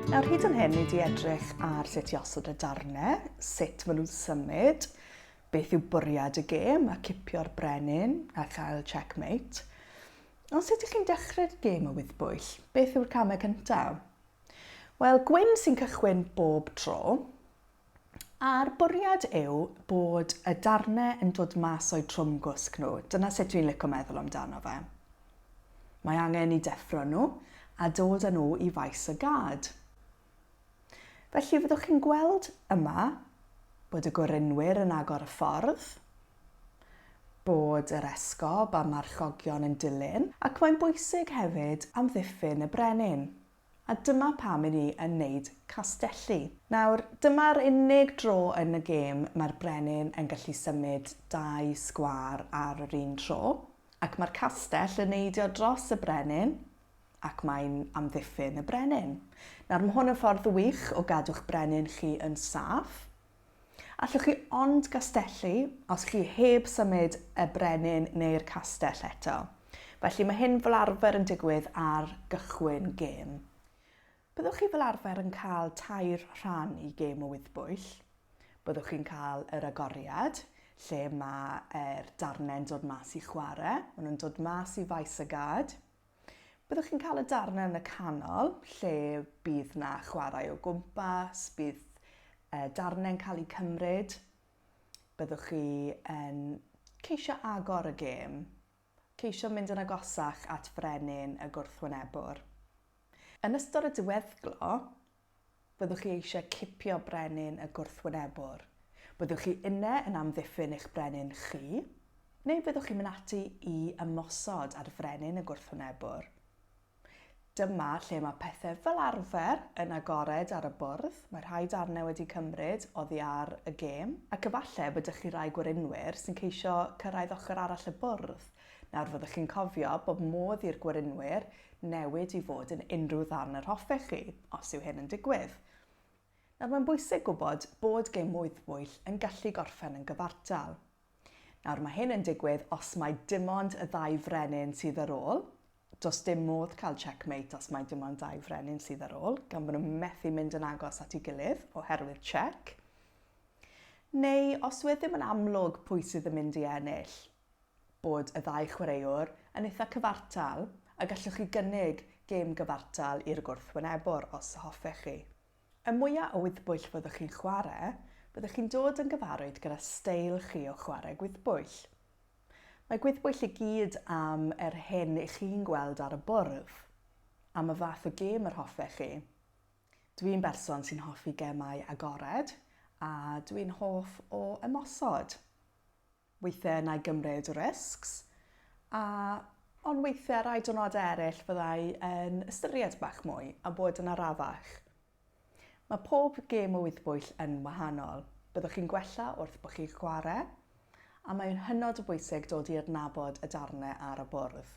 Nawr hyd yn hyn, ni wedi edrych ar sut i osod y darnau, sut maen nhw'n symud, beth yw bwriad y gêm a cipio'r brenin a chael checkmate. Ond sut ydych chi'n dechrau'r gêm o wyddbwyll? Beth yw'r camau cyntaf? Wel, Gwyn sy'n cychwyn bob tro. A'r bwriad yw bod y darnau yn dod mas o'u trwm gwsg nhw, dyna sut dwi'n lico meddwl amdano fe. Mae angen i deffro nhw a dod â nhw i faes y gad. Felly fyddwch chi'n gweld yma bod y gorunwyr yn agor y ffordd, bod yr esgob a marchogion yn dilyn, ac mae'n bwysig hefyd amddiffyn y brenin. A dyma pam i ni yn neud castelli. Nawr, dyma'r unig dro yn y gêm mae'r brenin yn gallu symud dau sgwâr ar yr un tro, ac mae'r castell yn neidio dros y brenin, ac mae'n amddiffyn y brenin. Nawr, mae hwn yn ffordd wych o gadw'ch brenin chi yn saff, Allwch chi ond gastellu os chi heb symud y brenin neu'r castell eto. Felly mae hyn fel arfer yn digwydd ar gychwyn gêm. Byddwch chi fel arfer yn cael tair rhan i gêm o wyddbwyll. Byddwch chi'n cael yr agoriad, lle mae'r darnau'n dod mas i chwarae. Maen nhw'n dod mas i faes y gad. Byddwch chi'n cael y darnau yn y canol, lle bydd na chwarae o gwmpas, bydd e, darnau'n cael eu cymryd. Byddwch chi yn ceisio agor y gêm, ceisio mynd yn agosach at frenin y gwrthwynebwr. Yn ystod y diweddglo, Byddwch chi eisiau cipio brenin y gwrthwynebwr? Byddwch chi yne yn amddiffyn eich brenin chi? Neu fyddwch chi'n mynd ati i ymosod ar frenin y gwrthwynebwr? Dyma lle mae pethau fel arfer yn agored ar y bwrdd, mae rhai darnau wedi cymryd oddi ar y gêm, ac efallai bod 'da chi rai gwerinwyr sy'n ceisio cyrraedd ochr arall y bwrdd Nawr fyddwch chi'n cofio bod modd i'r gwerinwyr newid i fod yn unrhyw ddarn yr hoffech chi, os yw hyn yn digwydd. Nawr mae'n bwysig gwybod bod gêm wyddbwyll yn gallu gorffen yn gyfartal. Nawr mae hyn yn digwydd os mai dim ond y ddau frenin sydd ar ôl, does dim modd cael checkmate os mai dim ond dau frenin sydd ar ôl, gan bod nhw'n methu mynd yn agos at ei gilydd oherwydd check. Neu os wedd ddim yn amlwg pwy sydd yn mynd i ennill, bod y ddau chwaraewr yn eitha' cyfartal a gallwch chi gynnig gêm gyfartal i'r gwrthwynebwr os y hoffech chi. Y mwya' o wyddbwyll fyddwch chi'n chware', byddwch chi'n dod yn gyfarwydd gyda steil chi o chware' gwyddbwyll. Mae gwyddbwyll i gyd am yr hyn i chi'n gweld ar y bwrdd, am y fath o gêm yr hoffech chi. Dwi'n berson sy'n hoffi gemau agored a dwi'n hoff o ymosod. Weithiau na i gymryd risks, a, ond weithiau ar rai diwrnodau eraill fydda i yn ystyried bach mwy a bod yn arafach. Mae pob gêm o wythbwyll yn wahanol. Byddwch chi'n gwella wrth bod chi'n chwarae, a mae'n hynod o bwysig dod i adnabod y darnau ar y bwrdd.